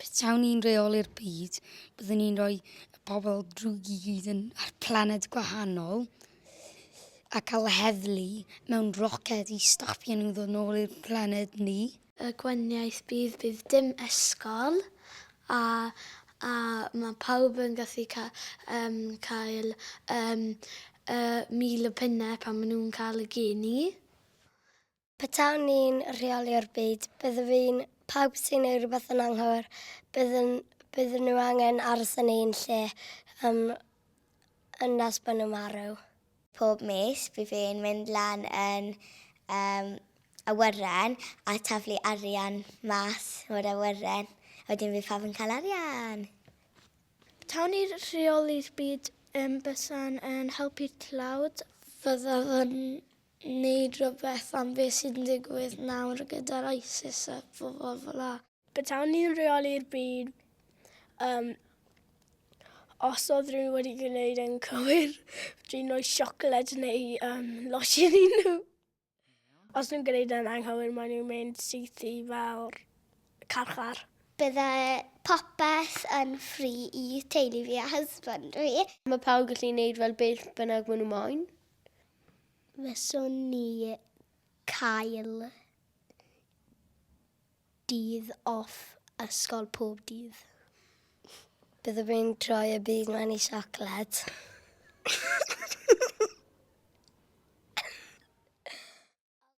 Petawn ni'n reoli'r byd, byddwn ni'n rhoi y pobl drwg i gyd yn ar planed gwahanol a cael y heddlu mewn roced i stopio nhw ddod nôl i'r planed ni. Y gwahaniaeth bydd bydd dim ysgol a a mae pawb yn gallu ca- yym cael yym yy mil o punnau pan maen nhw'n cael y geni. Petawn ni'n rheoli'r byd, byddwn fi'n pawb sy'n ei rhywbeth yn anghywir, byddwn, byddwn nhw angen aros yn ein lle um, yn nes bod nhw'n marw. Pob mis, bydd fi'n mynd lan yn um, awyren a taflu arian mas o'r awyren. A wedyn fi pawb yn cael arian. Tawn i'r rheoli'r byd yn bysan yn helpu'r tlawd. Fyddaf yn Neud rhywbeth am beth sy'n digwydd nawr gyda'r ISIS a phobl fel 'na. Petawn ni'n rheoli'r byd, yym, os oedd rhywun wedi gwneud e'n cywir, fedrwn ni roi siocled neu yym losin i nhw. Os nhw'n gwneud e'n anghywir maen nhw'n mynd syth i fel carchar. Bydde popeth yn free i teulu fi a husband fi. Mae pawb yn gallu neud fel beth bynnag maen nhw moyn. Fyswn ni cael dydd off ysgol pob dydd. Byddwn i'n troi y byd ma'n i siocled.